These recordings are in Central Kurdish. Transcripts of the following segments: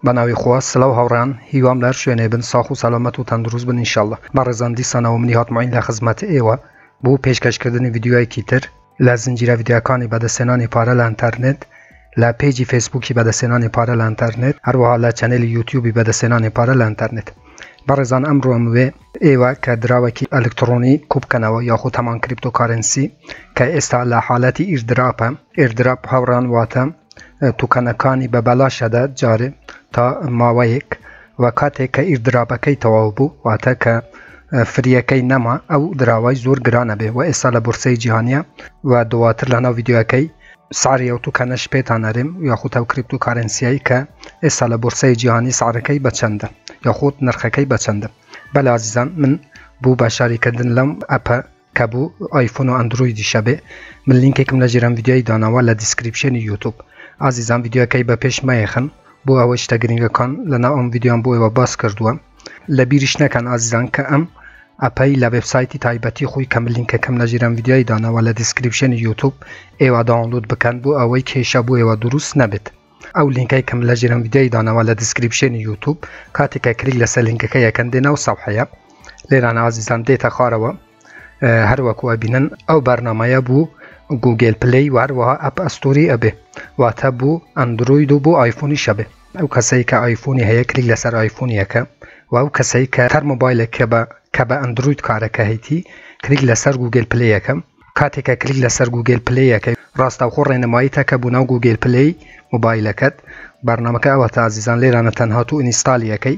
بەناوی خوا سلاو هاوڕێیان هیوام لەهەر شوێنێ بن ساخ و سەلامەت و تەندروست بن انشاللە بەڕێزان دیسانەوە منی هات معین لەخزمەت ئێوە بۆ پێشکەش کردنی ڤیدیۆیەکی تر لە زنجیرە ڤیدیۆکانی بەدەستێنانی پارە لە ئەنتەرنێت لە پێجی فەیسبوکی بەدەستێنانی پارە لە ئەنتەرنێت هەروەها لە چەنێلی یوتیوبی بەدەستێنانی پارە لە ئەنتەرنێت بەڕێزان ئەمڕۆم وێ ئێوە کە دراوێکی ئەلکتڕۆنی کوبکەنەوە یاخود هەمان کریپتۆکارێنسی کە ئێستا لە حالەتی ئیردراپە Airdrop هاوڕان واتە توکەنەکانی بە بەلاش ئەدا جارێ تا ماوەیەک وە کاتێک کە ئیردراپەکەی تەواو بوو واتە کە فریەکەی نەما ئەو دراوای زۆر گرانە بێ وە ئێستا لە بۆرسەی جیهانیە وە دواتر لە ناو ڤیدیۆکەی سعری ئەو توکانەش پێتان ئەرێم یاخود ئەو کریپتو کارەنسیەی کە ئێستا لە بۆرسەی جیهانی سعرەکەی بە چەندە یاخود نرخەکەی بە چەندە بەلێ ئازیزان من بوو بەشداری کردن لەم ئەپە کە بوو ئایفۆن و ئەندرویدی شەبێ من لینکێکم لە ژێرم ڤیدیۆی داناوە لە دیسکریپشێنی یوتوب ئازیزان ڤیدیۆکەی بە پێش مەیەخن بۆ ئەوەی شتە گرنگەکان لەناو ئەم ڤیدیۆم بۆ ئێوە باس کردووە لە بیریش نەکەن ئازیزان کە ئەم ئەپەی لە وێبسایتی تایبەتی خۆی کە من لینکەکەم لە ژیرم ڤیدیۆی داناوە لە دیسکریپشنی یوتوب ئێوە داونلود بکەن بۆ ئەوەی کێشە بۆ ئێوە دروست نەبێت ئەو لینکەی کەم لە ژیرم ڤیدیۆی داناوە لە دیسکریپشنی یوتوب کاتێکە کلیک لەسەر لینکەکە یەکەن دێنە و سەفحەیە لێران ئازیزان دێتە خارەوە هەروەکو ئەبینن ئەو بەرنمەیە بوو گوگل پلی و هەروەها ئەپ ئەستوری ئەبێ واتە بوو ئەندروید و بۆ ئایفۆنی شەبێ ئەو کەسەی کە ئایفۆنی هەیە کلیک لەسەر ئایفۆنی ئەکە وە ئەو کەسەی کە هەر مۆبایلێک کە بە کە بە ئەندروید کارەکە هەیتی کلیک لەسەر گوگل پلەی ئەکە کاتێک کە کلیک لەسەر گوگل پلەی ئەکەی ڕاستەوخۆ ڕێنماییت ئەکە بۆ ناو گوگل پلەی مۆبایلەکەت بەرنامەکە ئەوەتە ئازیزان لێرانە تەنها تۆ ئینیستالی ئەکەی.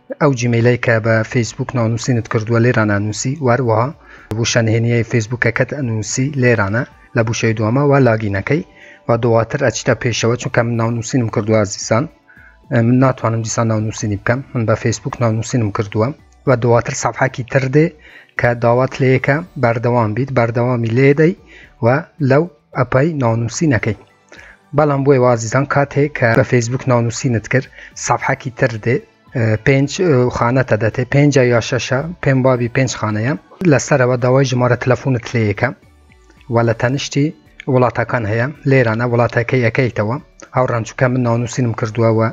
ئەو جیمەیلەی کە بە فەیسبووک ناونووسینت کردووە لێرانە نووسی واروەها وشە نهێنیەی فەیسبووکەکەت ئەنووسی لێرانە لە بوشەی دووەمە وا لاگینەکەی و دواتر ئەچیتە پێشەوە چونکە من ناونووسینم کردووە ئازیزان من ناتوانم دیسان ناونووسینی بکەم من بە فەیسبووک ناونووسینم کردووە و دواتر سەفحەکی تر دێ کە داوات لەیەکە بەردەوام بیت بەردەوامی لێدەی و لەو ئەپەی ناونووسینەکەی بەڵام بۆی وازیزان کات هەیە کە بە فەیسبوک ناونووسینت کرد سافحاکی تر دێ پێنج خانەتە دەتێ پێنج یا شەشە پێم بابی پێنج خانەیە لەسەرەوە داوای ژمارە تەلەفۆنت لەیەکە و لە تەنیشتی وڵاتەکان هەیە لێرانە وڵاتەکەی ئەەکەیتەوە ئەو ڕەنجکە من ناونووسینم کردووەوە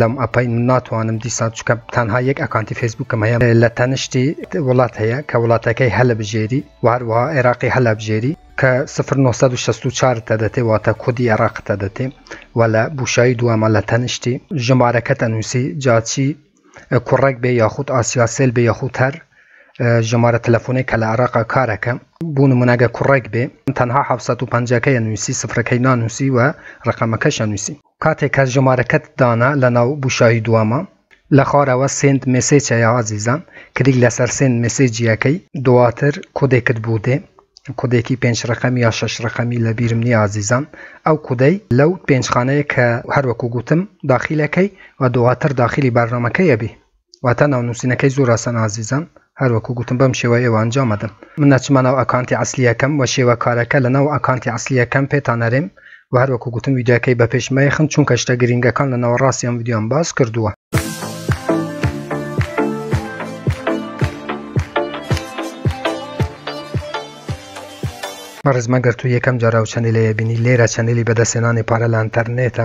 لەم ئەپین ناتوانم دیسان چکە تەنها یەک ئەکانتی فەیسبوکم هەیە لە تەنشتی وڵات هەیە کە وڵاتەکەی هەلە بژێری وهروەها عێراقی هەلە بژێری کە سفر 1964 تە دەتێ واتە کودی عێراق تە دەتێ و لە بوشایی دووەمە لە تەنیشتی ژمارەکە تەنووسی جاچی کوڕێک بێ یاخود ئاسیاسێل بێ یاخود هەر ژمارە تەلەفۆنێک کە لە عراقا کارەکە بوون مناگە کوڕێک بێ تەنها 1950ەکەیە نووسی سفرەکەی نانووسی و ڕقەمەکەشە نووسی کاتێ کە ژمارەکەت دانا لە ناو بوشاهی دوامە لە خوارەوە سێند مێسێچ هەیە ئازیزان کلیک لەسەر سێند مێسێجی ئەکەی دواتر کۆدێکت بو دێ کۆدێکی پێنج ڕەقەمی یا شەش ڕەقەمی لە بیرم نیە ئازیزان ئەو کودەی لەو پێنج خانەیە کە هەروەکو گوتم داخیلەکەی و دواتر داخیلی بەرنامەکەی ئەبی واتا ناو نوسینەکەی زور ئاسانە ئازیزان هەر وەکو گوتم بەم شێوەیە ئێوە ئەنجام ئەدەن من ئەچمە ناو ئەکانتی عەسلیەکەم وە شێوە کارەکە لە ناو ئەکانتی عەسلیەکەم پێتان ئەرێم وە هەر وەکو گوتم ڤیدیۆکەی بە پێش مەیەخن چونکە شتە گرینگەکان لە ناوەڕاستی ئەم ڤیدیۆم باس کردوە. بەڕێزم ئەگەر تۆ یەکەم جارە ئەو چەنێلەیە بینی لێرە چەنێلی بەدەستهێنانی پارە لە ئەنتەرنێتە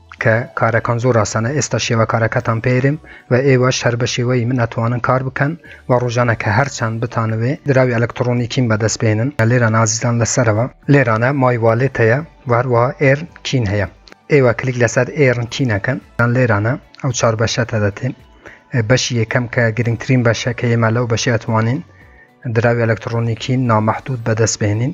کە کارەکان زۆر ئاسانە ئێستا شێوە کارەکەتان پێرم و ئێوەش هەر بە شێوەی من ئەتوانن کار بکەن و ڕۆژانە کە هەرچەند بتانەوێ دراوی ئەلکتڕۆنیکیم بەدەست بێنن لێران ئازیزان لەسەرەوە لێرانە مای والێت هەیە و هەروەها ئێرن کین هەیە ئێوە کلیک لەسەر ئێرن کین ئەکەن یان لێرانە ئەو چار بەشەتە دەتێن بەشی یەکەم کە گرنگترین بەشە کە ئێمە لەو بەشی ئەتوانین دراوی ئەلکتڕۆنیکین نامەحدود بەدەست بێنین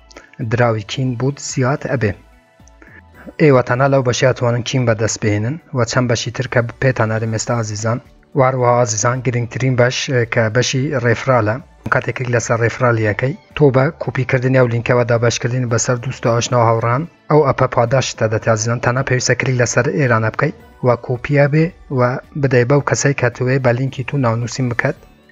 دراوی کین بوت زیاد ئەبێ ئێوە تەنها لەو بەشیا توانن کیم بەدەست بێنن و چەند بەشی تر کە پێتانەرە مێستا ئازیزان واروە ئازیزان گرنگترین بەش کە بەشی ڕێفرالە کاتێکێک لەسەر ڕێفرالیەکەی تۆ بە کوپیکردنی ئەو لینکەوە دابشکردن بەسەر دوست ئاشناوە هاوڕان ئەو ئەپە پاداشتە دەتازیزان تەنها پێویستە کلیک لەسەر ئێرانە بکەیت و کۆپیە بێ و بدەی بەو کەسەی کە توێ بە لینکی تو ناونووسین بکات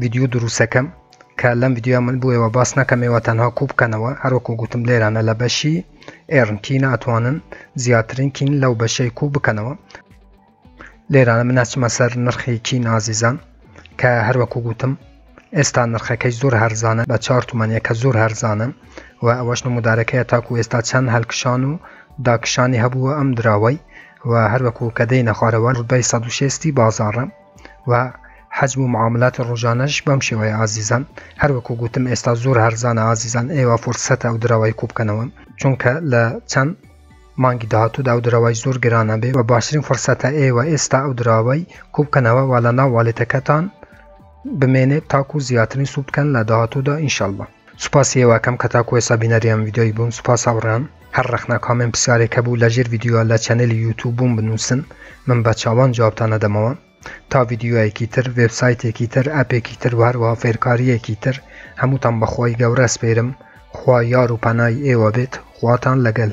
ڤیدیو دروستەکەم کە لەم ڤیددیو من بووەوە باس نەکەمەوە تەنها کوو بکەنەوە هەروەکو گوتم لێرانە لە بەشی ئێرنکی ناتوانن زیاترین کین لەو بەشەی کوو بکەنەوە لێرانە مناچمە سەر نرخی کی نازیزان کە هەروەکو گوتم ئێستا نرخەکەی زۆر هەرزانە بە چار تومانە کە زۆر هەرزانە و ئەوەش نمودارەکەی تاکو ئێستا چەند هەلکشان و داکشانی هەبووە ئەم دراوەی و هەروەکو کە دەینە خوارەوە ڕدای 16 بازاڕە و حەجم و معاملاتی ڕۆژانەش بەم شێوەیە ئازیزان هەروەکو گوتم ئێستا زۆر هەرزانە ئازیزان ئێوە فرسەتە ئەو درەوای کوبکەنەوە چونکە لە چەند مانگی داهاتوودا ئەو درەوای زۆر گرانە بێ و باشترین فرسەتە ئێوە ئێستا ئەو دراوای کوبکەنەوە وا لە ناو والێتەکەتان بمێنێت تاکو زیاترین سوود بکەن لە داهاتوودا ئینشەڵڵە سوپاسی ئێوەکەم کە تاکو ئێسا بینەری ئەم ڤیدیۆی بوون سوپاس هاوڕێیان هەر ڕەخنە کامێن پرسیارێک هەبوو لە ژێر ڤیدیۆ لە چەنێلی یوتوب بووم بنووسن من بە چاوان جوابتان نەدەمەوە تا ڤیدیۆیەکی تر وێبسایتێکی تر ئەپێکی تر و هەروەها فێرکارییەکی تر هەمووتان بەخوای گەورە سپێرم خوا یار و پەنای ئێوە بێت خواتان لەگەل